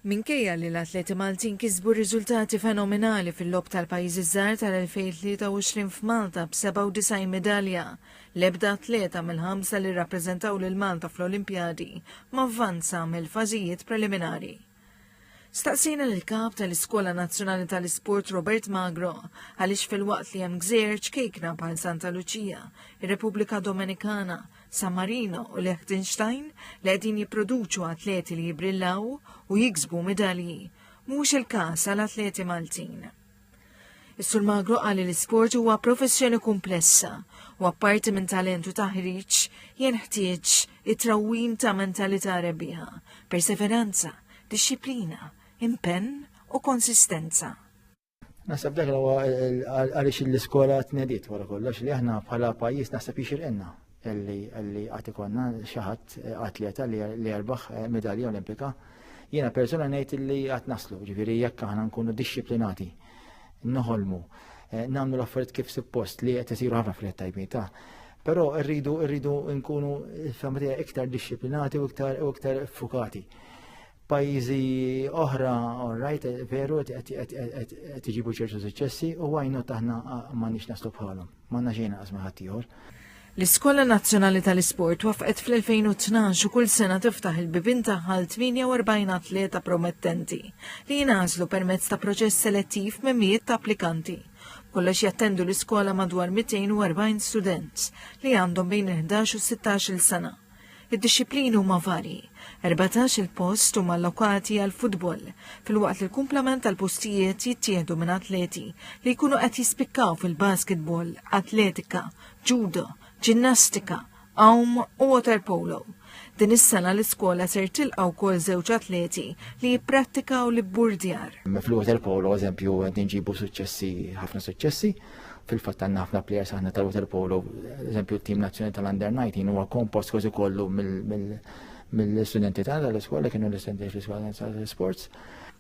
Minkejja li l-atleti Maltin kisbu riżultati fenomenali fil-Logħob tal-Pajjiżi ż-Żgħar tal-2023 f'Malta b'97 midalja, l-ebda atleta mill-ħamsa li rrappreżentaw lil Malta fl-Olimpjadi ma vvanza mill-fażijiet preliminari. Staqsejna lill-Kap tal-Iskola Nazzjonali tal-Isport Robert Magro għaliex filwaqt li hemm gżejjer ċkejkna bħal Santa Luċija, ir-Repubblika Domenikana, San Marino u Liechtenstein li qegħdin jipproduċu atleti li jibrillaw u jiksbu medalji, mhux il-każ għal atleti Maltin. Is-Sur Magro qal li l-isport huwa professjoni komplessa u apparti minn talentu taħriġ jenħtieġ it-trawwim ta' mentalità rebbieħa, perseveranza, dixxiplina, impenn u konsistenza. Nasab dak huwa għaliex l-iskola tnedit wara kollox li aħna bħala pajjiż naħseb jixirqinna li għad ikonna xi ħadd eh, atleta li jerbaħ eh, medalja olimpika. Jiena persuna ngħid li għad naslu, ġifieri jekk aħna nkunu dixxiplinati, noħolmu, eh, nagħmlu l-affarijiet kif suppost li qed isiru ħafna fil tajbin ta' Però rridu rridu nkunu familja iktar dixxiplinati u iktar u iktar fukati. pajjiżi oħra, all right, veru, qed iġibu ċertu suċċessi u għajnu taħna ma nix naslu bħalhom. Ma naxejna qasma ħaddieħor. L-Iskola Nazzjonali tal-Isport wafqet fl-2012 u kull sena tiftaħ il-bibin taħħal 48 atleta promettenti li jinażlu permezz ta' proċess selettiv me mijiet ta' applikanti. Kollox jattendu l-iskola madwar 240 student li għandhom bejn 11 u 16 il-sena. Id-dixxiplini huma varji. 14 il-post huma allokati għall-futbol, filwaqt li l-kumplament tal-postijiet jittieħdu minn atleti li jkunu qed jispikkaw fil-basketball, atletika, judo, ġinnastika, għawm u waterpolo. Din is-sena l-iskola ser tilqa' wkoll żewġ atleti li jipprattikaw l-ibburdjar. Fl-waterpolo, eżempju, qed inġibu suċċessi, ħafna suċċessi. Fil-fatt għandna ħafna players aħna ta' waterpolo, eżempju t-tim nazzjonali tal-under 19 huwa kompost kważi kollu mill-studenti tagħna l-iskola kienu l-istudenti fl-iskola tal-sports.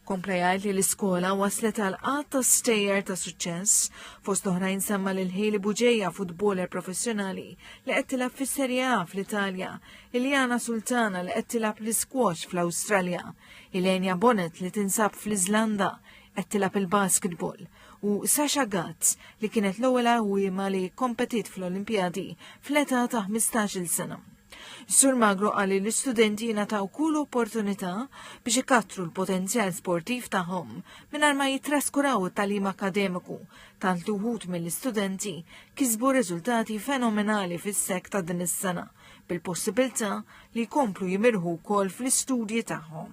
Kompla jgħid li l-iskola waslet għal qatt ta' stejjer ta' suċċess fost oħrajn semma lil Ħili Buġeja futboler professjonali li qed tilgħab fis-Serje A fl-Italja, Iljana Sultana li qed tilgħab l-iskwax fl-Awstralja, Ilenia Bonnet li tinsab fl-Iżlanda qed tilgħab il-basketball, u Sasha Gatz li kienet l-ewwel għawwiema li kompetiet fl-Olimpjadi fl-età ta' 15-il sena. Sur Magro qal li l-istudenti jingħataw kull opportunità biex ikattru l-potenzjal sportiv tagħhom mingħajr ma jitraskuraw it-tagħlim akademiku tant li wħud mill-istudenti kisbu riżultati fenomenali fis-sek ta' din is-sena bil-possibilità li jkomplu jimirħu wkoll fl-istudji tagħhom.